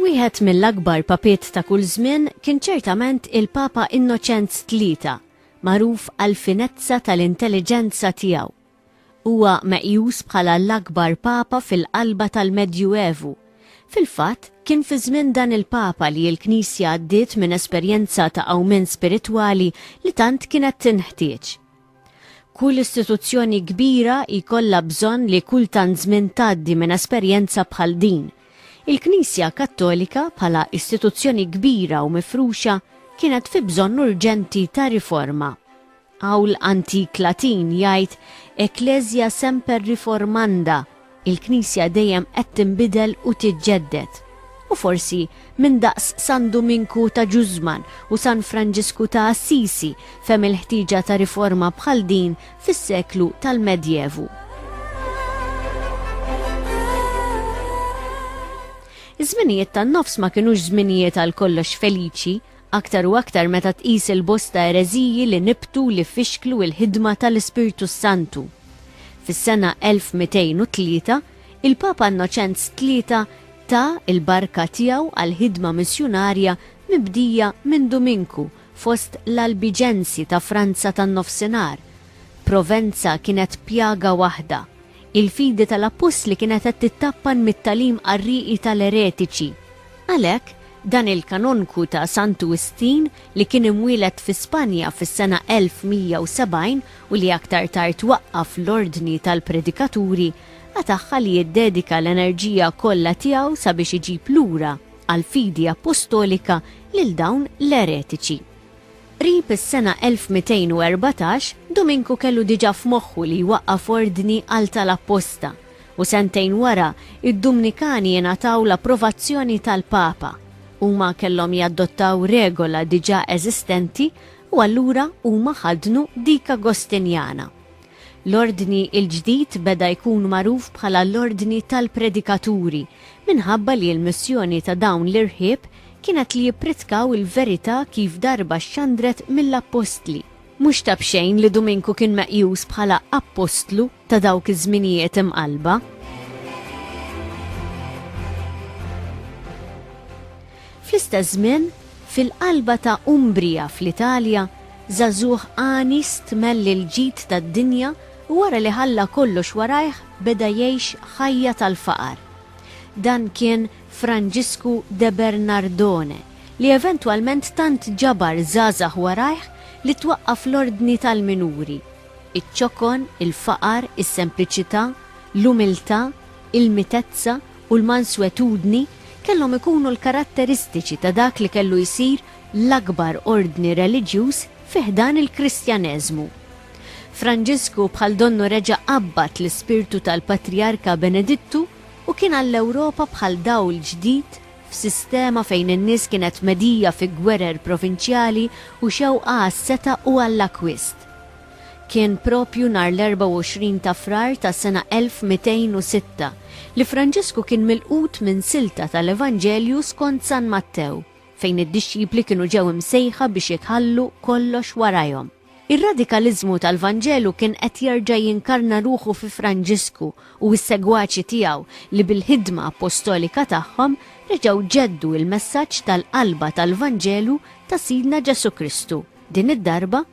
Wieħed mill-akbar papiet ta' kull żmien kien ċertament il-Papa Innoċenz Tlieta, magħruf għall-finezza tal-intelliġenza tiegħu Huwa meqjus bħala l-akbar Papa fil-qalba tal-Medju Evu. Fil-fatt, kien fi żmien dan il-Papa li l-Knisja għaddiet minn esperjenza ta' qawmien spiritwali li tant kienet tinħtieġ. Kull istituzzjoni kbira jkollha bżonn li kull tant żmien tgħaddi minn esperjenza bħal din. Il-Knisja Kattolika, bħala istituzzjoni kbira u mifruxa, kienet fi bżonn urġenti ta' riforma. Qawl antik Latin jgħid Ecclesia semper reformanda, il-Knisja dejjem qed tinbidel u tiġġedded. U forsi min daqs San Duminku ta' Ġużman u San Franġisku ta' Assisi fehem il-ħtieġa ta' riforma bħal din fis-seklu tal-Medjevu. Iż-żminijiet tan-Nofs ma kinux żminijiet għal kollox feliċi, aktar u aktar meta tqis il-bosta ereżiji li nibtu u li fixklu l-ħidma ta' l-Ispirtu s-Santu. Fis-sena 1203, il-Papa Innoċenz Tlieta ta l-barka tiegħu għall-ħidma missjunarja mibdija minn Duminku fost l-Albiġensi ta' Franza tan-Nofsinhar. Provenza kienet pjaga waħda. Il-fidi ta' l-Appostli kienet qed tittappan mit-tagħlim qarrieqi ta' l-eretiċi. Għalhekk, dan il-kanonku ta' Santu Wistin, li kien imwieled fi Spanja fis-sena 1170 u li aktar tard waqqaf l-Ordni tal-Predikaturi, qatagħha li jiddedika l-enerġija kollha tiegħu sabiex iġib lura għall-fidi appostolika lil dawn l-eretiċi. Qrib is-sena 1214, Duminku kellu diġà f'moħħu li jwaqqaf ordni għal tal-apposta, u sentejn wara, id-Dumnikani ingħataw l-approvazzjoni tal-Papa. Huma kellhom jadottaw regola diġà eżistenti u allura huma ħaddnu dik Agostinjana. L-Ordni l-ġdid beda jkun magħruf bħala l-Ordni tal-Predikaturi minħabba li l-missjoni ta' dawn l-irħieb kienet li jippritkaw il-verità kif darba xxandret mill-Appostli. Mhux ta' b'xejn li Duminku kien meqjus bħala appostlu ta' dawk iż-żminijiet imqallba. Fl-istess żmien, fil-qalba ta' Umbria fl-Italja, żagħżugħ għani stmell il-ġid tad-dinja u wara li ħalla kollox warajh beda jgħix ħajja tal-faqar. Dan kien Franġisku de Bernardone, li eventwalment tant ġabar żgħażagħ warajh li twaqqaf l-Ordni tal-Minuri. iċ-ċokon, il-faqar, is-sempliċità, l-umiltà, il-mitezza u l-manswetudni kellhom ikunu l-karatteristiċi ta' dak li kellu jsir l-akbar ordni reliġjuż fi ħdan il-Kristjaneżmu. Franġisku bħal donnu reġa' qabbad l-ispirtu tal-Patrijarka Benedittu u kien għall-Ewropa bħal dawl ġdid f'sistema fejn in-nies kienet medhija fi gwerer provinċjali u xewqa għas-setgħa u għall-akkwist. Kien proprju nhar l-24 ta' Frar tas-sena 1206 li Franġisku kien milqut minn silta tal-Evanġelju skont San Mattew, fejn id-dixxipli kienu ġew imsejħa biex jitħallu kollox warajhom. Ir-radikaliżmu tal-Vanġelu kien qed jerġa' jinkarna ruħu fi Franġisku u s-segwaċi tiegħu li bil-ħidma appostolika tagħhom reġgħu ġeddu l-messaġġ tal-qalba tal-Vanġelu ta' Sidna Ġesù Kristu, din id-darba,